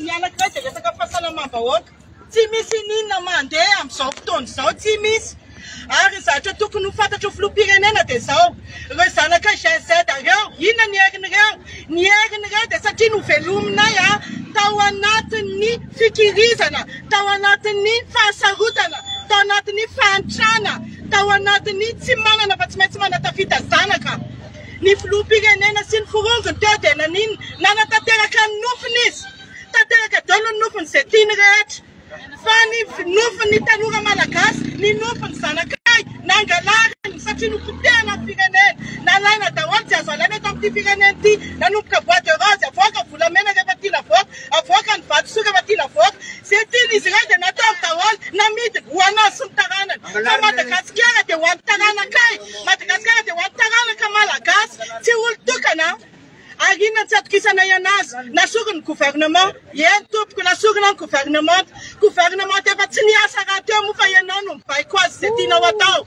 Ny anankiray dia resaka fahasalamam-bahoaka. Tsy misy ininona mandeha amin'izao fotoana izao, tsy misy. Ary ny zavatra tokony ho fantatr'io filoham-pirenena dia izao, ireo zanaka Gen Z ireo, inona ny herin'ireo? Ny herin'ireo dia satria novelominay tao anatin'ny fikirizana, tao anatin'ny fahasarotana, tao anatin'ny fahantrana, tao anatin'ny tsy manana fa tsy maintsy manatafita zanaka. Ny filoham-pirenena sy ny forongony teo dia naninona? Nanatanteraka ny nofiny izy. Tanteraka daholo ny nofiny izay tiany rehetra. Fa ny nofin'ny tanora malagasy, ny nofin'ny zanakay, nangalariny satria nopotehina ny firenena. Nalaina daholo, tsy azo alaina eto amin'ity firenena ity. Nanomboka bois de rose, avoaka volamena rehefa tiana avoaka. Avoaka ny vatosoka fa tiana avoaka. Izay tian'izy ireo dia nataony daholo. Namidiny ho anao sy ny taranany. Fa Madagasikara dia ho an'ny taranakay. Madagasikara dia ho an'ny taranaka Malagasy. Tsy olon-tokana ary inona no tsy atokisanay anazy. Nasoriny ny gouvernement. Eny tompoko, nasorina ny gouvernemanta. Gouvernemanta efa tsy niasa rahateo moa fa ianao no mibaiko azy izay tianao atao.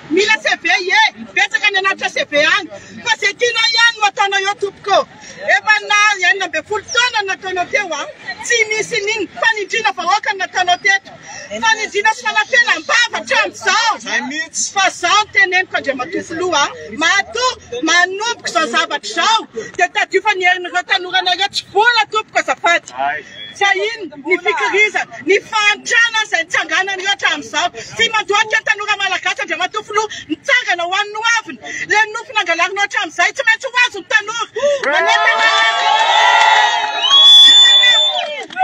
Mila CV ie, betsaka any anatitra CV any, fa ze tianao iany no ataonao eo tompoko ô! Efa na enina ambin'ny folo taona no nataonao teo an! Tsy misy in'iny, fanindriana vahoaka no nataonao teto, fanindriana sy fanapenam-bava hatramin'izao! Fa zao no teneniko Andriamatoa Filoha an! Matoa manomboka izao zavatra izao dia tadidio fa ny herin'ireo tanoranareo tsy vola tompoko azafady! Sahiny ny fikirizana, ny fahantrana izay nitsanganan'io hatramin'izao. Tsy mandohalika tanora malagasy Andriamatoa Filoha, mitsangana ho an'ny hoaviny. Ilay nofy nangalarinao hatramin'izay tsy maintsy ho azon'ny tanora. Manentana eto,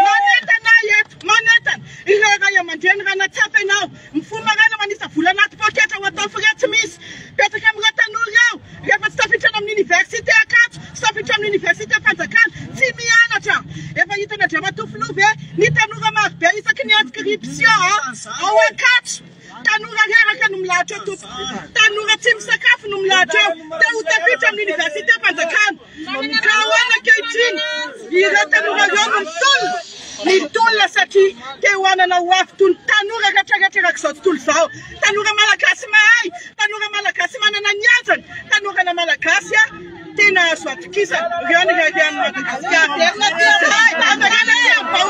manentana eto, manentana ireo Ray aman-dReny raha nahatsapa ianao. Mifoha maraina manisa vola anaty poketra ho atao frais tsy misy. Betsaka amin'ireo tanora ireo, rehefa tsy tafiditra any amin'ny oniversite Ankatso sy tafiditra amin'ny oniversite Fanjakana, tsy mianatra. Efa hitan'i Andriamatoa Filoha ve ny tanora marobe isaky ny inscription ao Ankatso? Tanora reraka no milahatra eo tompoko. Tanora tsy misakafo no milahatra eo. Te ho tafiditra amin'ny oniversite Fanjakana. Ka ahoana ankehitriny? Ireo tanora ireo no mitolona? Mitolona satria te hohanana ho avy toy ny tanora retraretrak'izao tontolo izao. Tanora malagasy mahay, tanora malagasy manana ny hajany, tanorana malagasy tena azo atokisana. Ireo no reharehan'i Madagasikara. Izahay Tanora Tserivao.